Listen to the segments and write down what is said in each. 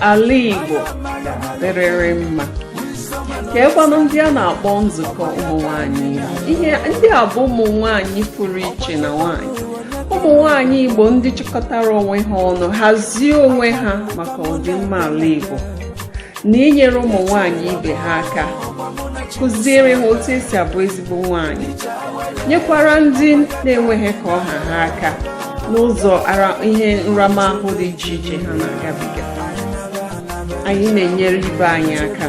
ala Igbo ga-adịrịrị mma keekwanụ ndị a na-akpọ nzukọ ụmụ nwanyị Igbo ihe ndị a bụ ụmụ nwanyị pụrụ iche na nwanyị ụmụ nwanyị Igbo ndị chịkọtara onwe ha ọnụ hazie onwe ha maka ọdịmma ala Igbo na inyere ụmụ nwanyị ibe ha aka kụziere ha otu esi abụ ezigbo bụ nwanyị nyekwara ndị na-enweghị ka ọ ha ha aka n'ụzọ ihe nramahụ dị iche iche ha na-agabiga anyị na-enyere ibe anyị aka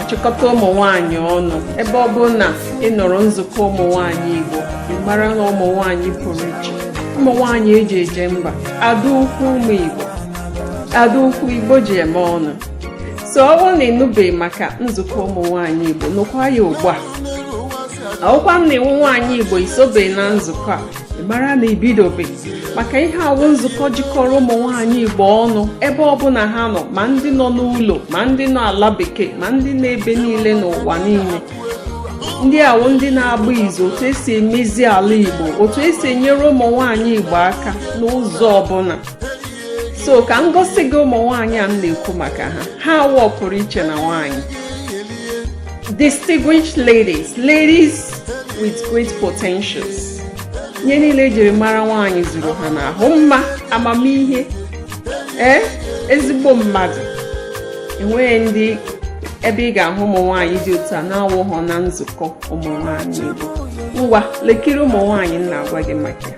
achịkọta ụmụ nwanyị ọnụ ebe ọbụna ị nụrụ nzukọ ụmụ nwanyị Igbo gị mara na ụmụ nwanyị pụrụ iche ụmụ nwanyị eji eje mba ada ukwu ụmụ Igbo ada ukwu Igbo ji eme ọnụ so ọ bụrụ na ịnụbeghị maka nzukọ ụmụ nwaanyị Igbo nụkwa ya ugbu a ọ wụkwanụ na ị wụ nwaanyị Igbo isobeghị na nzukọ a gị mara na ibidobe maka ihe a wụ nzukọ jikọrọ ụmụ nwaanyị Igbo ọnụ ebe ọbụna ha nọ ma ndị nọ n'ụlọ ma ndị nọ ala bekee ma ndị nọ ebe niile n'ụwa niile ndị a wụ ndị na-agba izu otu esi emezi ala Igbo otu esi enyere ụmụ nwaanyị Igbo aka n'ụzọ ọbụna so ka m gosi gị ụmụ nwaanyị a m na-ekwu maka ha ha wụ ọpụrụ iche na nwaanyị distinguished ladies ladies with great potentials ihe niile ejiri mara nwaanyị zuru ha n'ahụ mma amamihe ee eh, ezigbo mmadụ enweghịdị ebe ị ga-ahụ ụmụ nwaanyị dị otu a na-awụghọ na nzukọ ụmụ nwaanyị Igbo ngwa lekiri ụmụ nwaanyị m na-agwa gị maka ya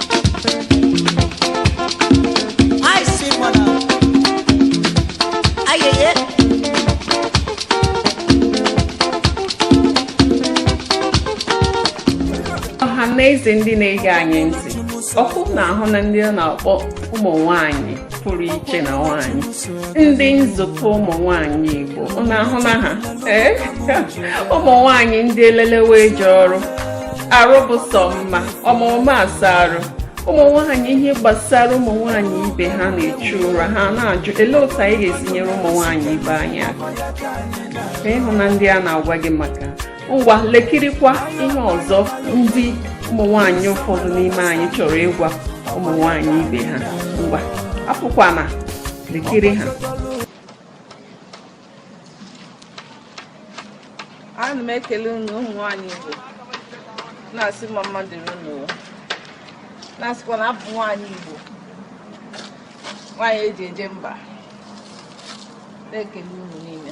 ọha na eze ndị na-ege anyị ntị ọkwa ụnụ ahụna ndị a na-akpọ ụmụ nwanyị pụrụ iche na nwanyị ndị nzukọ ụmụ nwanyị Igbo ụnụ ahụna ha eh? ụmụ nwanyị ndị elelewe eje ọrụ arụ bụ sọ mma ọma ụma asa arụ ụmụ nwanyị ihe gbasara ụmụ nwanyị ibe ha na-echu ụra ha na-ajụ elee otu anyị ga-esi nyere ụmụ nwanyị ibe anyị aka ị hụna ndị a na-agwa gị maka ngwa lekirikwa ihe ọzọ ndị ụmụ nwanyị ụfọdụ n'ime anyị chọrọ ịgwa ụmụ nwanyị ibe ha ngwa apụkwana lekiri ha ana m ekele unu ụmụ nwanyị Igbo na-asị mma mma dịrị unu na-asịkwa na abụ nwaanyị Igbo nwaanyị eji eje mba na-ekele unu niile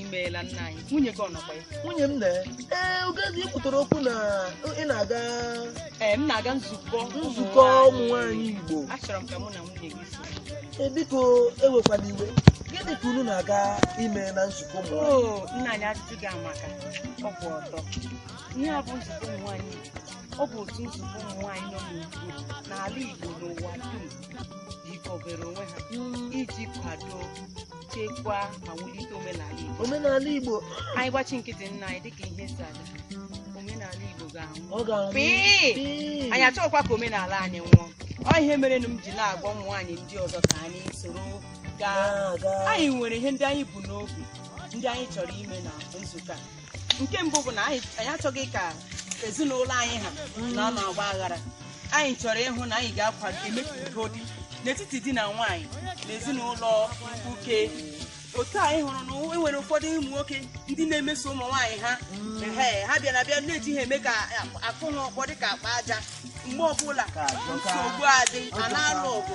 imeela nna anyị nwunye gị ọ nọkwa ya nwunye m na ee Ugoeze ị kwutara okwu na ị na-aga ee m na-aga nzukọ nzukọ ụmụ nwaanyị igbo achọrọ m ka mụ na nwunye gị so Ee, biko ewekwala iwe gịnị ka unu na-aga ime na nzukọ ụmụ nwaanyị oo nna anyị ajụjụ gị amaka ọ bụ ọtọ ihe a bụ nzukọ ụmụ nwaanyị Igbo. ọ bụ otu nzukọ ụmụ nwaanyị nọ n'Igbo n'ala Igbo n'ụwa dum jikọbere onwe ha iji kwado chekwaa ma wulite omenala Igbo omenala Igbo anyị gbachi nkịtị nna anyị dịka ihe si aga omenala Igbo ga-anwụ ọ ga-anwụ Pịị! Pịị! anyị achọghịkwa ka omenala anyị nwụọ ọ ihe merenụ m ji na-agwa ụmụ nwaanyị ndị ọzọ ka anyị soro gaa Na-aga. anyị nwere ihe ndị anyị bu n'obi ndị anyị chọrọ ime na nzukọ a nke mbụ bụ na anyị anyị achọghị ka ezinụlọ anyị ha nọ n'ọgba aghara anyị chọrọ ịhụ na anyị ga-akwado eme ka udo dị n'etiti di na nwaanyị na ezinụlọ uke otu anyị hụrụ na e nwere ụfọdụ ụmụ nwoke ndị na-emeso ụmụ nwaanyị ha ehe, ha bịara bịa na-eji ha eme ka akụ ha ọkpọ dị ka akpa aja mgbe ọbụla nsogbu adị a na-alụ ọgụ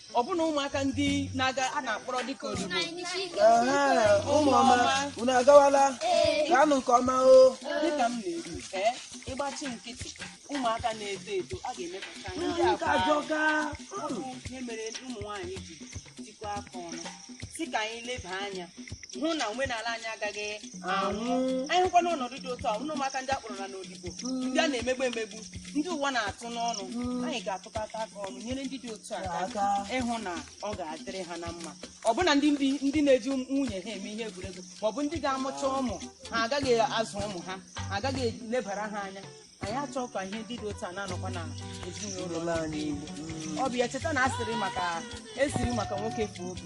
ọbụna ụmụaka ndị na-aga a na-akpọrọ dịka odibo ụmụ ọma unu agawala gaanụ nke ọma o dịka m na-ekwu ee ịgbachi nkịtị ụmụaka na-eto eto a ga-emepụta ha. ndị a bụ ọ bụ ihe mere ụmụ nwaanyị ji tikọọ aka ọnụ sị ka anyị leba anya hụ na omenala anyị agaghị anwụ anyị hụkwa n'ọnọdụ dị otu a ụmụaka ndị a kpọrọ na n'odibo ndị a na-emegbu emegbu ndị ụwa na-atụ n'ọnụ anyị ga-atụkọta aka ọnụ nyere ndị dị otu a aka ịhụ na ọ ga-adịrị ha na mma ọbụna ndị ndị ndị na-eji nwunye ha eme ihe egwuregwu ma ọ bụ ndị ga-amụcha ụmụ ha agaghị azụ ụmụ ha ha agaghị elebara ha anya anyị achọghị ka ihe ndị dị otu a na-anọkwa na ezinụlọ anyị. ọ bụ ya cheta na asịrị maka esiri maka nwoke fuo obi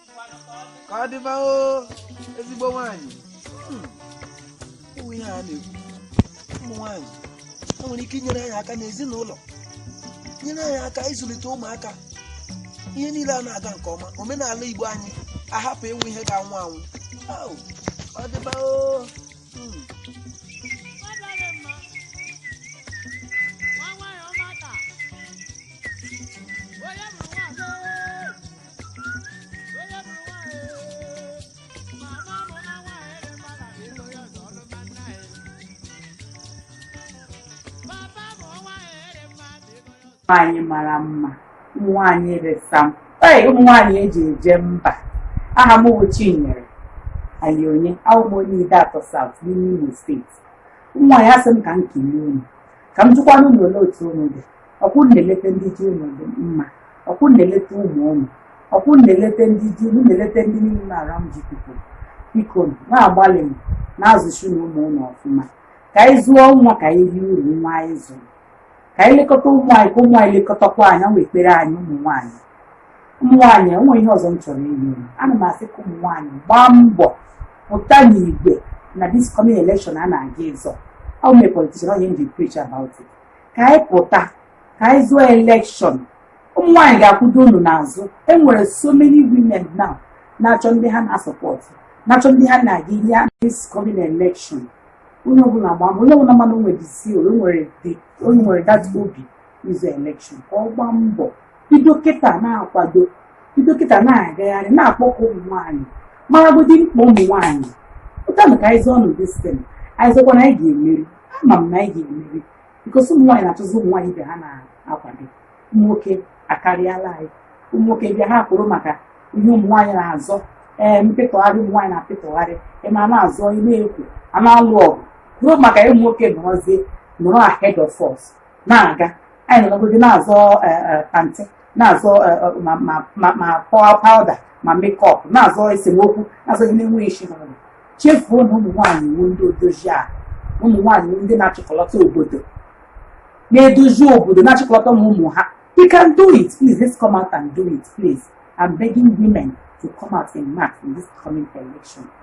ka ọ dịba o ezigbo nwaanyị Hmm. ụmụ ihe a na-ekwu ụmụ nwaanyị o nwere ike inyere anyị aka n'ezinụlọ nyere anyị aka ịzụlite ụmụaka ihe niile a na-aga nke ọma omenala igbo anyị ahapụ ịwụ ihe ga-anwụ anwụ Au, ọ dịba o Hmm. nwaanyị mara mma ụmụ nwaanyị resam ee ụmụ nwaanyị e ji eje mba aha m bụ Chinyere Alionye awụ m onye Ideato South n'ime Imo steeti ụmụ nwaanyị asị m ka m kelee unu ka m jụkwanụ unu olee otu unu dị ọ kwa unu na-eleta ndị ji unu dị mma ọ kwa unu na-eleta ụmụ unu ọ kwa unu na-eleta ndị ji unu na-eleta ndị niile nọ around you people biko na-agbalịnụ na-azụzinụ ụmụ unu ọfụma ka anyị zụọ nwa ka anyị rie uru nwa anyị zụrụ ka anyị lekọta ụmụ anyị ka ụmụ anyị lekọtakwa anyị wụ ekpere anyị ụmụ nwaanyị ụmụ nwaanyị enwe ihe ọzọ m chọrọ inye unu ana m asị ka ụmụ nwaanyị gbaa mbọ pụta n'igwe na this coming election a na-aga ịzọ am a politician ọ ya m ji preach about it ka anyị pụta ka anyị zọọ elekshọn ụmụ nwaanyị ga-akwụdo unu n'azụ enwere so many women now na-achọ ndị ha na-asọpọtụ na-achọ ndị ha na-aga ihe a this coming election onye ọbụla gbaa mbọ onye ọbụla ma na o nwere this o nwere the o nwere that obi ịzọ elekshọn ka ọ gbaa mbọ bido kịta na-akwado bido kịta na-agagharị na-akpọkọ ụmụ nwaanyị maragodi mkpa ụmụ nwaanyị pụtanụ ka anyị zọọnụ distin anyị zọkwa na anyị ga-emeri ama m na anyị ga-emeri because ụmụ nwaanyị na-achọzi ụmụ nwaanyị ibe ha na-akwado ụmụ nwoke akarịala anyị ụmụ nwoke bịa ha kwụrụ maka ihe ụmụ nwaanyị na-azọ ee mpịtọgharị ụmụ nwaanyị na-apịtọgharị ịma na-azọ ị na-ekwu a na-alụ ọgụ ruo maka ụmụ nwoke nọrọzie nọrọ ahead of us na-aga anyị nọrọgodi na-azọ pantị na-azọ eh, eh, ma- ma- ma ma pow powder ma makeup na-azọ esemokwu na-azọ ihe na-enweghị isi na ọdụ chefuo na ụmụ nwaanyị wụ ndị odozi a ụmụ nwaanyị wụ ndị na-achịkọlọta obodo na-edozi obodo na-achịkọlọta ụmụ ụmụ ha you can do it please let's come out and do it please i'm begging women to come out in mass in this coming election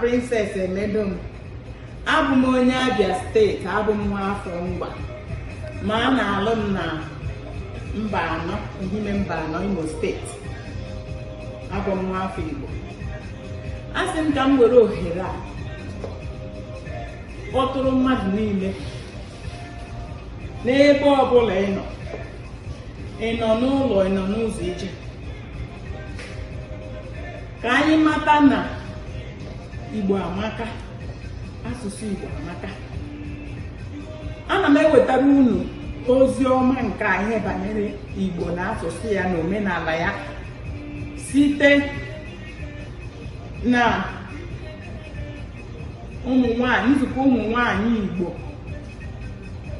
Princess Emedom abụ m onye Abia steeti abụ m nwa afọ Ngwa ma a na-alụ m na Mbano Ehime Mbano Imo steeti abụ m nwa afọ Igbo a sị m ka m were ohere a kpọtụrụ mmadụ niile n'ebe ọbụla ị nọ ị nọ n'ụlọ ị nọ n'ụzọ ije ka anyị mata na igbo amaka asụsụ igbo amaka ana m ewetara unu ozi ọma nke anyị banyere igbo na asụsụ ya na omenala ya site na ụmụ nwanyị nzukọ ụmụ nwanyị Igbo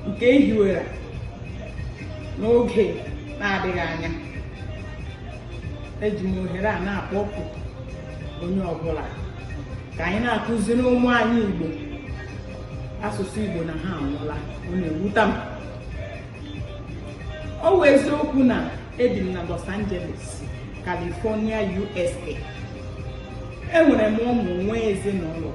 nke ehiwere n'oge na-adịghị anya eji m ohere a na-akpọku onye ọbụla ka anyị na-akụziri ụmụ anyị Igbo asụsụ Igbo na ha anwụla ọ na-ewuta m ọ wụ eziokwu na ebi m na Los Angeles California USA enwere m ụmụ nwee ezinụlọ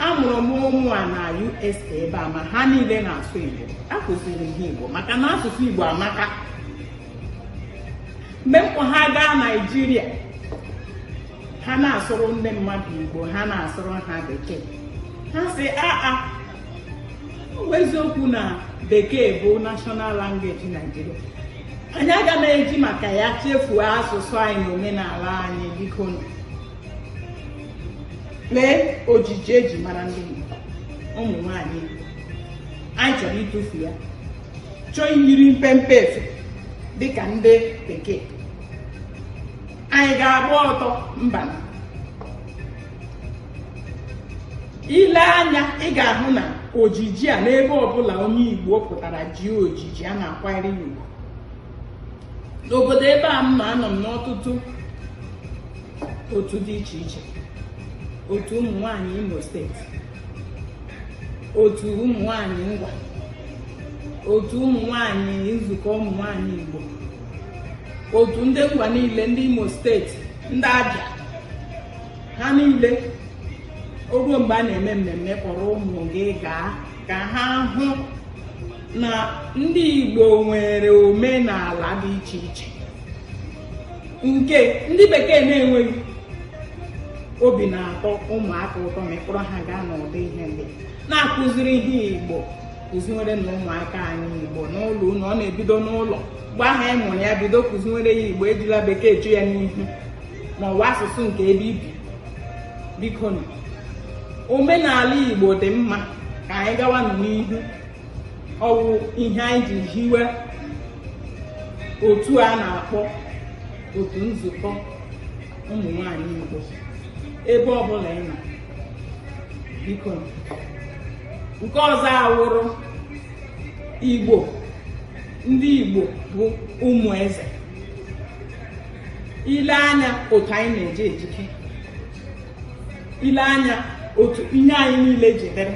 amụrụ m ụmụ a na USA ebe a ma ha niile na-asụ Igbo akụziri ha Igbo maka na asụsụ Igbo amaka mgbe m kpọ ha gaa Naịjirịa ha na-asụrụ ndị mmadụ Igbo ha na-asụrụ ha bekee ha sị aa eziokwu na bekee bụ national language Nigeria anyị aga na-eji maka ya chefuo asụsụ anyị na omenala anyị biko nụ lee ojiji eji mara ndị Igbo ụmụ nwanyị Igbo anyị chọrọ ịtụfu ya chọọ iyiri mpempe efe dịka ndị bekee anyị ga-agba ọtọ mba ile anya ị ga-ahụ na ojiji a n'ebe ọbụla onye Igbo pụtara jie ojiji a na-akwanyere ya ugwu n'obodo ebe a mụwa anọ m n'ọtụtụ otu dị iche iche otu ụmụ nwanyị Imo steeti otu ụmụ nwanyị Ngwa otu ụmụ nwanyị nzukọ ụmụ nwanyị Igbo otu ndị Ngwa niile ndị Imo steeti ndị Abịa ha niile oruo mgbe a na-eme mmemme kpọrọ ụmụ gị gaa ka ha hụ na ndị Igbo nwere omenala dị iche iche nke ndị bekee na-enweghị obi na-atọ ụmụaka ụtọ ma ịkpọrọ ha gaa n'ụdị ihe ndị na-akụziri ihe Igbo kụziwere nụ ụmụaka anyị Igbo n'ụlọ na ọ na-ebido n'ụlọ mgbe ahụ ị mụrụ ya bido kụziwere ya Igbo ejila bekee eche ya n'ihu na ọwụ asụsụ nke ebe i bi biko nụ omenala igbo dị mma ka anyị gawa nụ n'ihu ọwụ ihe anyị ji hiwe otu a na-akpọ otu nzukọ ụmụ nwanyị igbo ebe ọbụla ị nọ biko nụ. nke ọzọ awụrụ igbo ndị igbo bụ ụmụ eze ile anya otu anyị na-eji ejike ile anya otu ihe anyị niile ji dịrị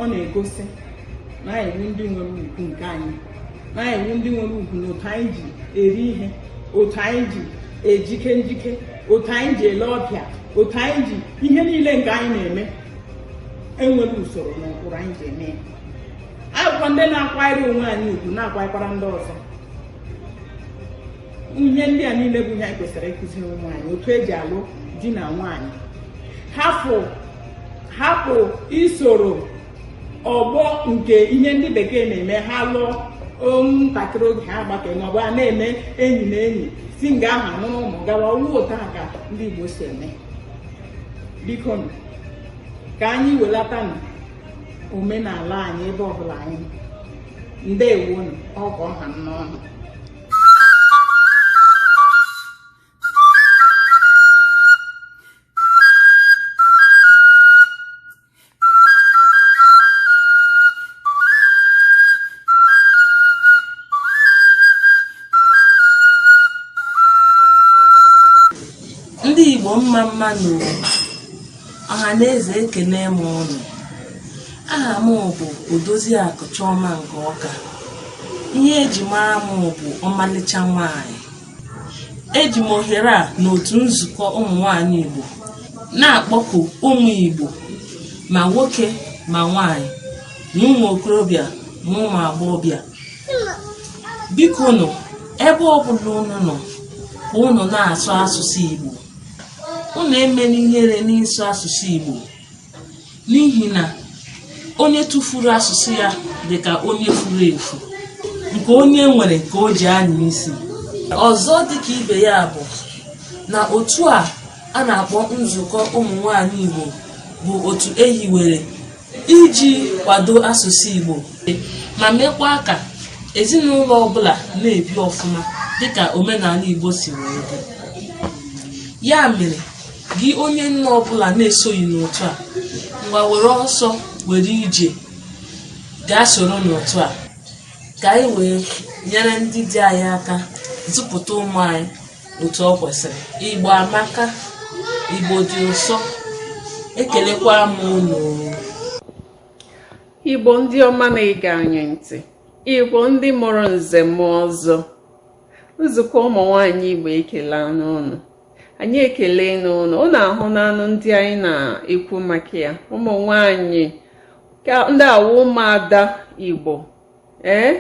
ọ na-egosi na anyị enwe ndị nwere ugwu nke anyị na anyị wụ ndị nwere ugwu na otu anyị ji eri ihe otu anyị ji ejike njike otu anyị ji ele ọbịa otu anyị ji ihe niile nke anyị na-eme enwere usoro na ụkpụrụ anyị ji eme ya anyị bụkwa ndị na-akwanyere onwe anyị ugwu na-akwanyekwara ndị ọzọ ihe ndị a niile bụ ihe anyị kwesịrị ịkụziri ụmụ anyị otu eji alụ di na nwaanyị hapụ hapụ isoro ọgbọ nke ihe ndị bekee na-eme ha lụọ ntakịrị oge ha gbakee ma ọ bụ a na-eme enyi na enyi si nga ahụ amụrụ ụmụ gawa ọ wụ otu a ka ndị Igbo si eme biko ka anyị welatanụ omenala anyị ebe ọbụla anyị ndewonụ ọgọ ọha nnọọnụ ndị Igbo mma mma nụ o Ọhaneze ekenee m ụnụ. Aha m bụ Odoziakụ Chioma nke Ọka. Ihe eji mara m bụ ọmalịcha nwaanyị. Eji m ohere a n'otu nzukọ ụmụ nwaanyị Igbo na-akpọku ụmụ Igbo ma nwoke ma nwaanyị ma ụmụ okorobịa ma ụmụ agbọghọbịa biko nụ ebe ọbụla unu nọ ka unu na-asụ asụsụ Igbo unu emela ihere n'ịsụ asụsụ Igbo n'ihi na onye tụfuru asụsụ ya dị ka onye furu efu nke onye nwere ka o ji anya isi ọzọ dịka ibe ya bụ na otu a a na-akpọ nzukọ ụmụ nwanyị Igbo bụ otu ehiwere iji kwado asụsụ Igbo ma mekwa ka ezinụlọ ọbụla na-ebi ọfụma dịka omenala Igbo si wee dị ya mere gị onye nne ọbụla na-esoghị n'otu a ngwa were ọsọ were ije gaa soro n'otu a ka anyị wee nyere ndị di anyị aka zụpụta ụmụ anyị otu ọ kwesịrị igbo amaka igbo dị ụsọ ekelekwa m unu igbo ndị ọma na-ege anyị ntị igbo ndị mụrụ nze mụọ ọzọ nzukọ ụmụ nwanyị igbo ekelena ụnụ anyị ekele n'ụlọ ụnụ ahụ n'anụ ndị anyị na-ekwu maka ya ụmụ nwanyị ndị a wụ ụmụada igbo ee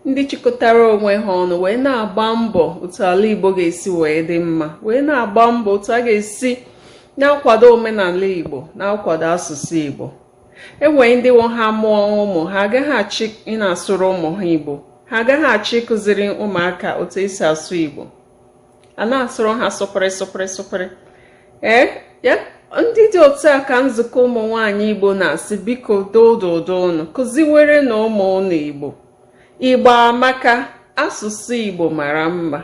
ndị chịkọtara onwe ha ọnụ wee na-agba mbọ otu ala igbo ga-esi wee dị mma wee na-agba mbọ otu a ga-esi na-akwado omenala igbo na-akwado asụsụ igbo enwere ndị wụ ha mụọ ụmụ ha agaghị achọ ịna-asụrụ ụmụ ha igbo ha agaghị achọ ịkụziri ụmụaka otu esi asụ igbo a na-asụrụ ha sụpịrị sụpịrị sụpịrị ee ya ndị dị otu a ka nzukọ ụmụ nwanyị igbo na-asị biko dododo unu kụziwere na ụmụ ụnụ igbo igbo amaka asụsụ igbo mara mma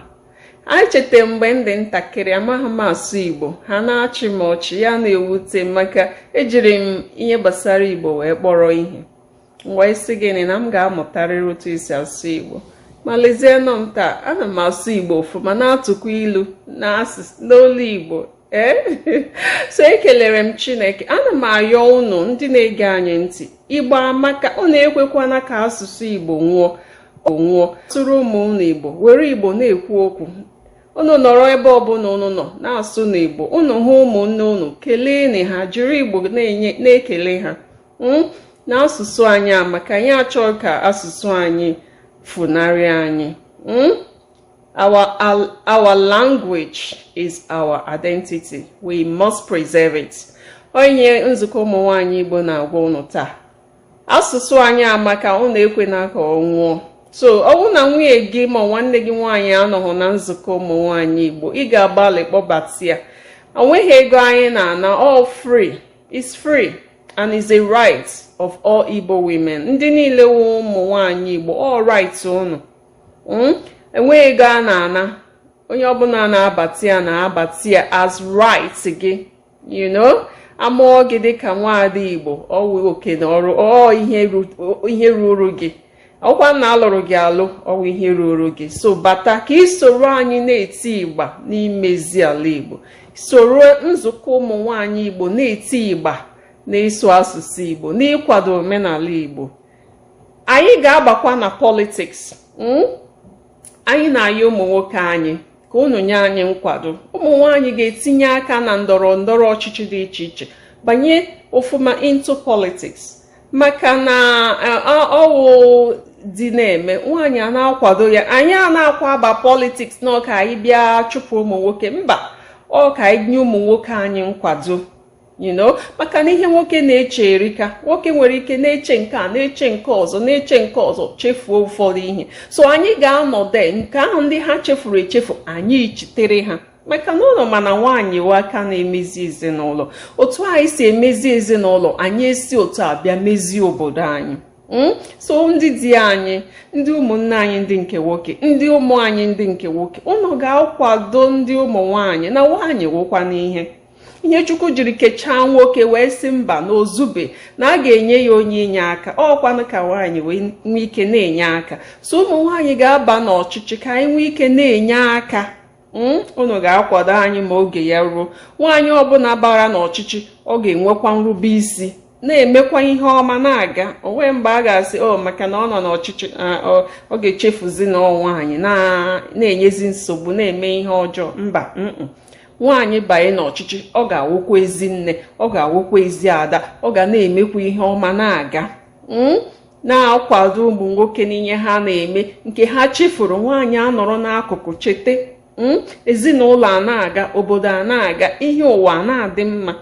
anyị cheta mgbe m dị ntakịrị amaghị m asụ igbo ha na-achị m ọchị ya na-ewute m maka ejiri m ihe gbasara igbo wee kpọrọ ihe m wee sị gịnị na m ga-amụtarịrị otu esi asụ igbo ma lezienụ m taa ana m asụ igbo ọfụma na-atụkwa ilu n'olu igbo ee eh? so ekelere m chineke ana m ayọ ụnụ ndị na-ege anyị ntị igbo amaka unu ekwekwana ka asụsụ igbo nwụọ sụrụ ụmụ ụnụ igbo were igbo na-ekwu okwu unu nọrọ ebe ọbụla unu nọ na-asụ n'igbo unu hụ ụmụnne unu keleenụ ha jiri igbo na-ekele ha hmm? na asụsụ anyị amaka anyị achọghị ka asụsụ anyị funarị anyị hmm? our our language is our identity we must preserve it ọ ihe nzukọ ụmụ nwanyị Igbo na-agwa ụnụ taa asụsụ anyị amaka ụnụ ekwena ka ọ nwụọ so ọwụ na nwunye gị ma nwanne gị nwaanyị anọghị na nzukọ ụmụ nwaanyị igbo ị ga-agbalị kpọbata ya onweghị ego anyị na-ana all free It's free and is a right of all Igbo women. Ndị niile wụ ụmụ nwaanyị Igbo ọ right unu. Hmm? Enweghị ego a na-ana onye ọbụla na-abata ya na-abata ya as right gị you know amụọ gị dịka nwaada Igbo ọwụ oke na ọrụ ọ ihe ruru gị ọwụkwa na alụrụ gị alụ ọwụ ihe ruoro gị so bata ka ị soro anyị na-eti igba n'imezi ala igbo soro nzukọ ụmụ nwanyị igbo na-eti igba n'ịsụ asụsụ igbo n'ịkwado omenala igbo anyị ga-abakwa na politics hmm? anyị na-ayọ ụmụ nwoke anyị ka unu nye anyị nkwado ụmụ nwanyị ga-etinye aka na ndọrọ ndọrọ ọchịchị dị iche iche banye ofuma into politics maka na ọwụ di na-eme nwaanyị a na-akwado ya anyị anaghịkwa aba politics na ọ ka anyị bịa chụpụ ụmụ nwoke mba ọ ka anyị nye ụmụ nwoke anyị nkwado you know maka na ihe nwoke na-eche erika nwoke nwere ike na-eche nke a na-eche nke ọzọ na-eche nke ọzọ chefuo ụfọdụ ihe so anyị ga-anọde nga ahụ ndị ha chefuru echefu anyị echetere ha maka na ụnụ ma na nwaanyị wụ aka na-emezi ezinụlọ otu anyị si emezi ezinụlọ anyị esi otu a bịa mezie obodo anyị hmm? so ndị di anyị ndị ụmụnne anyị ndị nke nwoke ndị ụmụ anyị ndị nke nwoke ụnụ ga-akwado ndị ụmụ nwaanyị na nwaanyị wụkwanụ ihe ihe chukwu jiri kechaa nwoke wee sị mba na o zube na a ga-enye ya onye inye aka ọ kwanụ ka nwaanyị wee nwee ike na-enye aka so ụmụ nwaanyị ga-aba n'ọchịchị ka anyị nwee ike na-enye aka hmm, unu ga-akwado anyị ma oge ya ruo nwaanyị ọbụla bara n'ọchịchị ọ ga-enwekwa nrube isi na-emekwa ihe ọma na-aga o nwe mgbe a ga-asị o oh, maka na ọ nọ n'ọchịchị ọ ga-echefuzi na ọ nwaanyị na-enyezi nsogbu na-eme ihe ọjọọ mba nwaanyị banye n'ọchịchị ọ ga-awụkwa ezi nne ọ ga-awụkwa ezi ada ọ ga na-emekwa ihe ọma na-aga hmm? na-akwado ụmụ nwoke n'ihe ha na-eme nke ha chefuru nwaanyị anọrọ n'akụkụ chete hmm? ezinụlọ a na-aga obodo a na-aga ihe ụwa a na-adị mma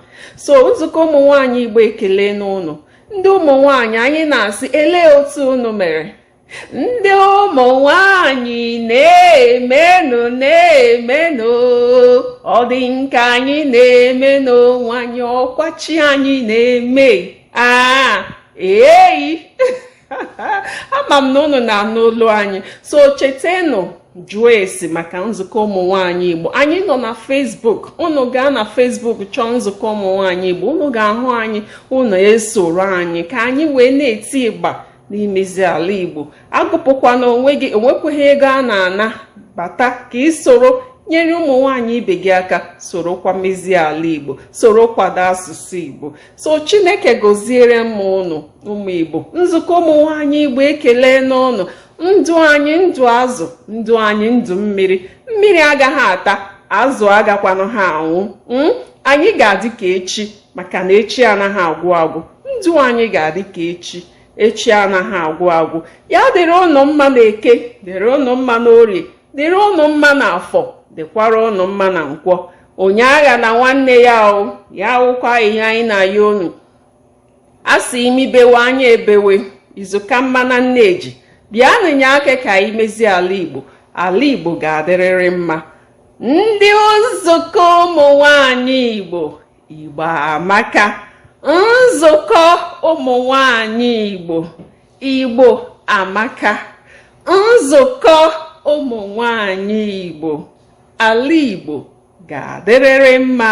so nzukọ ụmụ nwaanyị igbo ekelene unu ndị ụmụ nwaanyị anyị na-asị elee otu unu mere ndị ụmụ nwanyị na-emenụ na-emenụ ọ dịghị nke anyị na-eme n'onwe anyị ọ kwa chi anyị na-eme aa eyi ama m na unu na-anụ olu anyị so chetenụ jụọ ese maka nzukọ ụmụ nwanyị igbo anyị nọ na facebook unu gaa na facebook chọọ nzukọ ụmụ nwanyị igbo unu ga-ahụ anyị unu esoro anyị ka anyị wee na-eti ịgba n'imezi ala igbo agụpụkwana onwe gị o nwekweghị ego a na-ana bata ka i soro nyere ụmụ nwanyị ibe gị aka sorokwa mezie ala igbo soro kwado asụsụ igbo so chineke gọziere m ụnụ ụmụ igbo nzukọ ụmụ nwaanyị igbo ekelene ụnụ ndụ anyị ndụ azụ ndụ anyị ndụ mmiri mmiri agaghị ata azụ agakwanụghị anwụ hmm? anyị ga-adị ka echi maka na echi anaghị agwụ agwụ ndụ anyị ga-adị ka echi echi anaghị agwụ agwụ ya dịrị ụnụ mma na eke dịrị ụnụ mma na orie dịrị ụnụ mma na afọ dịkwara ụnụ mma na nkwọ onye aghana nwanne ya ọ ya wụkwa ihe anyị na-ayọ unu a sị imi bewe anya ebewe izu ka mma na nne ji bịanụ nye aka ka anyị mezie ala igbo ala igbo ga-adịrịrị mma ndị nzukọ ụmụ nwanyị igbo igbo amaka nzukọ ụmụ nwanyị igbo Igbo amaka nzukọ ụmụ nwanyị Igbo ala Igbo ga-adịrịrị mma